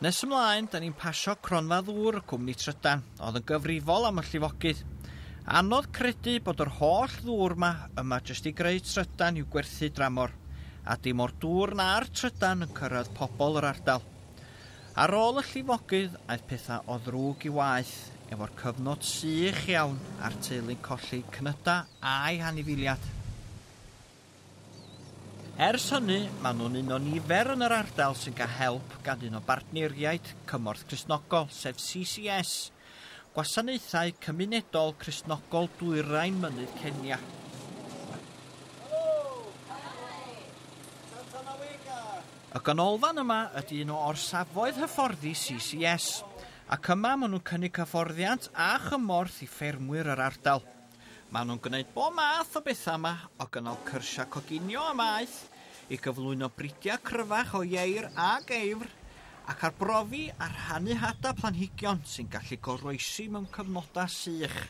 Nes ymlaen, da ni'n pasio cronfa ddŵr y cwmni trydan, oedd yn gyfrifol am y llifogydd. Anodd credu bod yr holl ddŵr ma yma jyst i greu trydan i'w gwerthu dramor, a dim o'r dŵr na'r trydan yn cyrraedd pobl yr ardal. Ar ôl y llifogydd, aeth pethau o ddrwg i waeth, efo'r cyfnod sych iawn a'r teulu'n colli cnydau a'u hanifiliad. Ers hynny, maen nhw'n un o nifer yn yr ardal sy'n cael help gan un o bartneiriaid Cymorth Cristnogol, sef CCS, Gwasanaethau Cymunedol Cristnogol Dwyrain Mynydd Kenya. Y ganolfan yma ydy un o orsafoedd hyfforddi CCS, ac yma maen nhw'n cynnig hyfforddiant a chymorth i ffermwyr yr ardal. Maen nhw'n gwneud bob math o bethau yma, o gynnal cyrsiau coginio am aeth, i gyflwyno bridiau cryfach o ieir a geifr, ac arbrofi a rhannu hadau planhigion sy'n gallu goroesi mewn cyfnodau sych.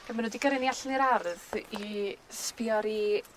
Ac maen nhw wedi gyrru ni allan i'r ardd i sbio ar eu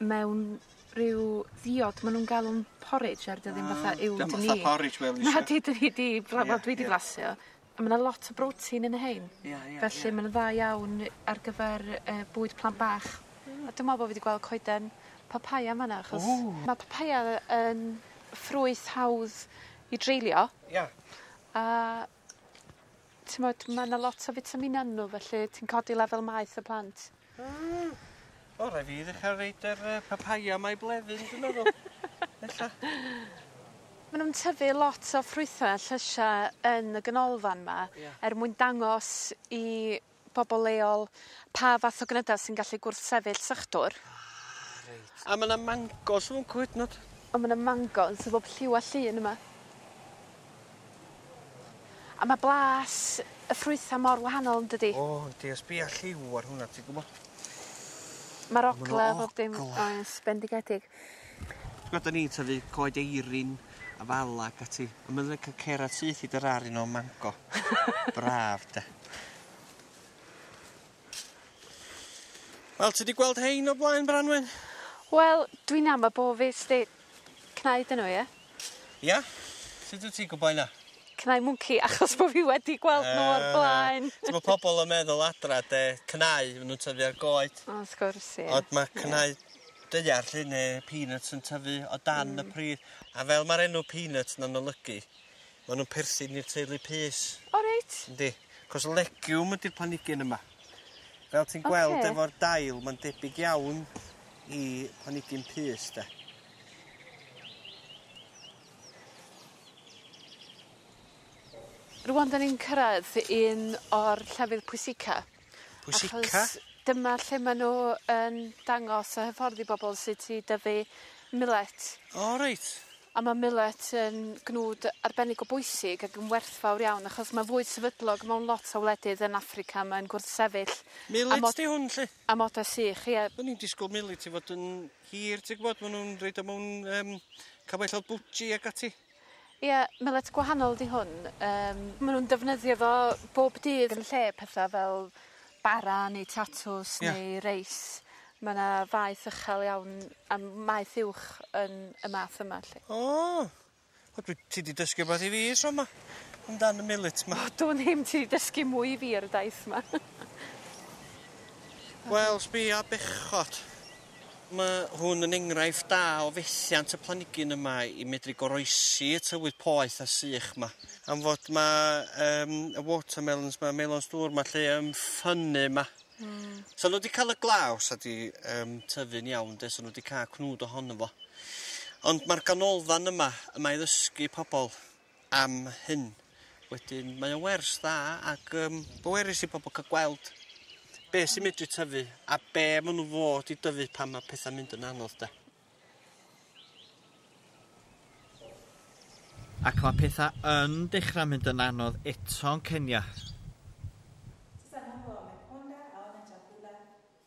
mewn rhyw ddiod ma' nw'n galw'n porridge er 'di o ddim fatha uwd ni. Dio'm fatha porridge fel dwi isio. Nadi 'dyn ni 'di bla- wel dwi 'di flasio. A ma' 'na lot o brotein yn rhein. Ia ia ia. Felly ma' nw'n dda iawn ar gyfer yy bwyd plant bach. Hmm. A dwi me'wl bo' fi 'di gweld coeden papaja yn fan 'na achos... Ww. ...ma' papaja yn ffrwyth hawdd i dreulio. Ia. A T'mod ma' 'na lot o fitamina yn n'w felly ti'n codi lefel maeth y plant. Hmm. O rai' fi ddechra roid yr yy papaya 'ma i Blefyn dwi'n meddwl. Ella. Ma' nw'n tyfu lot o ffrwythe a llysie yn y ganolfan 'ma. Ia. er mwyn dangos i pobol leol pa fath o gnyda sy'n gallu gwrthsefyll sychdwr. Ah reit. A ma' 'na mangos yn fwnc hyd 'nod. A ma' 'na mangos o bob lliw a llun yma. A ma' blas y ffrwytha mor wahanol yndydi? O yndi a sbia lliw ar hwnna ti gwbo. Ma'r ogla a bob dim... Ma' 'na ogla. ...oes bendigedig. T'gwod 'da ni'n tyfu coed eirin a fala ac ati a ma' lico cerad syth i dy rar i nôl mango. Braf 'de? Wel ti 'di gweld rhein o blaen Branwen? Wel dwi'n ama bo' fi sti cnau dyn nhw ie? Ia? Sut wt ti'n gwbo hynna? Cnau mwnci achos bo' fi wedi gweld nhw o'r blaen. Yy t'mo' pobol yn meddwl adra 'de cnau ma' nw'n tyfu ar goed. O wrth gwrs ie. Ond ma' cnau daear 'lly ne' peanuts yn tyfu o dan y pridd a fel ma'r enw peanut 'na'n olygu ma' nw'n perthyn i'r teulu pys. O reit. Yndi. 'C'os legiwm ydi'r planigyn yma. Fel ti'n gweld... Oce. ...efo'r dail ma'n debyg iawn i planigyn pys 'de. Rŵan 'dan ni'n cyrraedd un o'r llefydd pwysica. Pwysica. Achos dyma lle ma' n'w yn dangos y hyfforddi i bobol sut i dyfu milet. O reit. A ma' milet yn gnwd arbennig o bwysig ac yn werthfawr iawn achos ma' fwyd sefydlog mewn lot o wledydd yn Affrica mae'n gwrthsefyll... Milet 'di hwn 'lly? ...amodau sych ie. O'n i'n disgwl milet i fod yn hir ti gwbod ma' nw'n roid o mewn yym cyfaill fel bwtji ag ati. Ie, millet gwahanol ydi hwn yym ma' nw'n defnyddio fo bob dydd yn lle petha fel bara neu tatws... Ie. ...neu reis ma' 'na faeth ychel iawn a m- maeth uwch yn y math yma 'lly. O! O dwi ti 'di dysgu wbath i fi tro 'ma amdan y millet 'ma. O dwn i'm ti 'di dysgu mwy i fi ar y daith 'ma. Wel sbia bechod. Mae hwn yn enghraifft da o fethiant y planigyn yma i medru goroesi y tywydd poeth a sych 'ma. Am fod ma yym y watermelons 'ma, melons dŵr 'ma 'lly yn ffynnu 'ma. Hmm. So n'w 'di ca'l y glaw sa 'di yym tyfu'n iawn 'de so n'w 'di ca'l cnwd ohono fo. Ond ma'r ganolfan yma, y mae ddysgu pobol am hyn. Wedyn mae o'n wers dda ac um, bwerus i pobl cael gweld be sy'n medru tyfu a be maen nhw fod i dyfu pan mae pethau'n mynd yn anodd de. Ac mae pethau yn dechrau mynd yn anodd eto'n Kenya.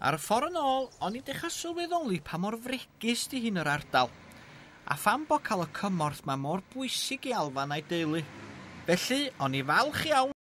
Ar y ffor yn ôl, o'n i'n dechra sylweddoli pa mor fregus 'di hyn yr ardal, a pham bo' ca'l y cymorth 'ma mor bwysig i Alfan a'i deulu. Felly, o'n i falch iawn,